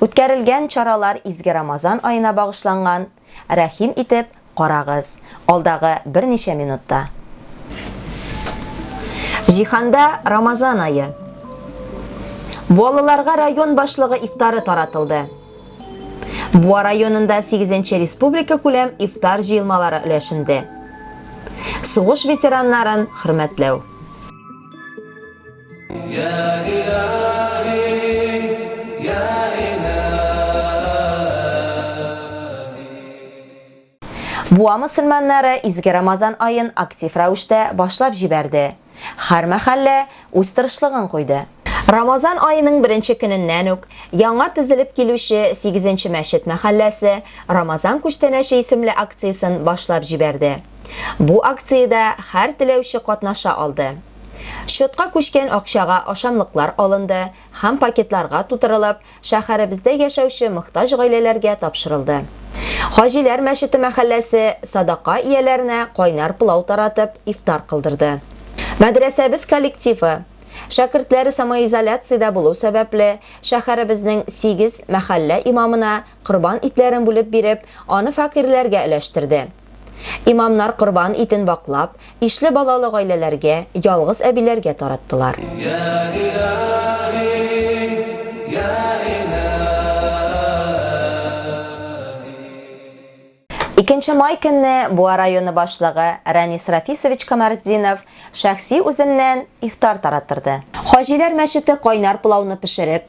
Үткәрелгән чаралар изге Рамазан аена багышланган, рәхим итеп карагыз, алдагы берничә минутта. Җиһанда Рамазан ае. Балаларга район башлыгы ифтары таратылды. Буа районында сигезенче республикакүләм ифтар җыелмалары өләшенде. Сугыш ветераннарын хөрмәтләү. Буа мөселманнары изге Рамазан аен актив рәвештә башлап җибәрде. Хәр мәхәллә үз тырышлыгын куйды. Рамазан аеның беренче көненнән үк яңа тезелеп килүче Сигезенче мәчет мәхәлләсе Рамазан күчтәнәче исемле акциясен башлап җибәрде. Бу акциядә хәр теләүче катнаша алды. Счетка күчкән акчага ашамлыклар алынды һәм пакетларга тутырылып, шәһәребездә яшәүче мохтаҗ гаиләләргә тапшырылды. Хаҗиләр мәчете мәхәлләсе садака ияләренә кайнар пылау таратып, ифтар кылдырды. Мәдрәсәбез коллективы, шәкертләре самоизоляциядә булу сәбәпле, шәһәребезнең сигез мәхәллә имамына корбан итләрен бүлеп биреп, аны фәкыйрьләргә өләштерде. Имамнар корбан итен ваклап, ишле балалы гаиләләргә, ялгыз әбиләргә тараттылар. Икенче май көнне Буа районы башлыгы Рәнис Рафисович Камартдинов шәхси үзеннән ифтар тараттырды. Хаҗиләр мәчете кайнар пылауны пешереп,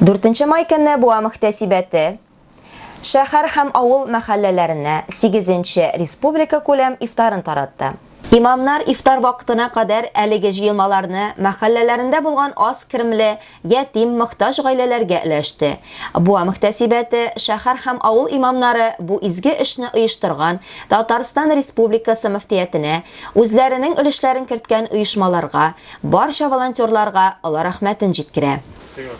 Дүртенче май көнне буа мөхтәсибәте шәһәр һәм авыл мәхәлләләренә сигезенче республикакүләм ифтарын таратты. Имамнар ифтар вакытына кадәр әлеге җыелмаларны мәхәлләләрендә булган аз керемле, ятим, мохтаҗ гаиләләргә өләште. Буа мөхтәсибәте шәһәр һәм авыл имамнары бу изге эшне оештырган Татарстан Республикасы мөфтиятенә, үзләренең өлешләрен керткән оешмаларга, Барча волонтерларга олы рәхмәтен җиткерә.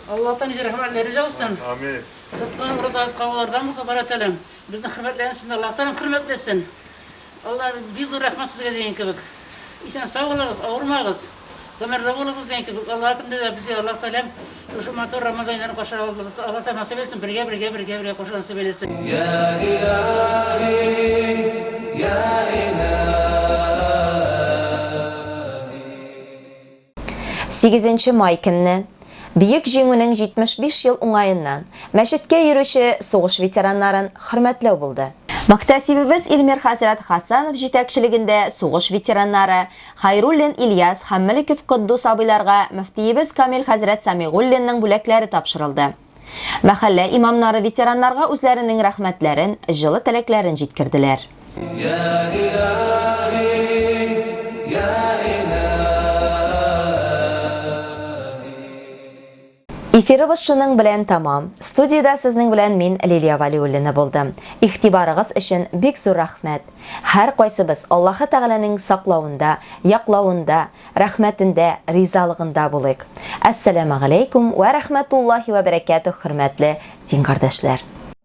Аллаһтан ниҗә рәхмәтләре җаусын! Тоткан уразагыз кабуллардан булсын, Ходай Тәгаләм безнең хөрмәтләрне сезне Аллаһ Тәгаләм хөрмәтләсен! Аллаһ бик зур рәхмәт сезгә дигән кебек. Исән-сау булыгыз, авырмагыз, гомерле булыгыз дигән кебек, Аллаһ көнендә дә безгә Аллаһ Тәгаләм Шушы матур Рамазан айларын каршы алабыз. Алла Тәгалә насыйп әйтсен, бергә, бергә, бергә, бергә каршы аласы бәйләсен. Сигезенче май көнне, Бөек Җиңүнең 75 ел уңаеннан, мәчеткә йөрүче сугыш ветераннарын хөрмәтләү булды. Мөхтәсибебез Илмир хәзрәт Хәсәнов җитәкчелегендә сугыш ветераннары, Хәйруллин Ильяс һәм Мөлеков Котдус абыйларга мөфтиебез Камил хәзрәт Сәмигуллинның бүләкләре тапшырылды. Мәхәллә имамнары ветераннарга үзләренең рәхмәтләрен, җылы теләкләрен җиткерделәр. Эфирыбыз шуның белән тәмам. Студиядә сезнең белән мин Лилия Валиуллина булдым. Игътибарыгыз өчен бик зур рәхмәт. Һәркайсыбыз Аллаһы Тәгаләнең саклавында, яклавында, рәхмәтендә, ризалыгында булыйк. Әссәламәгаләйкүм вә рәхмәтуллаһи вә бәрәкәтүһ хөрмәтле дин кардәшләр!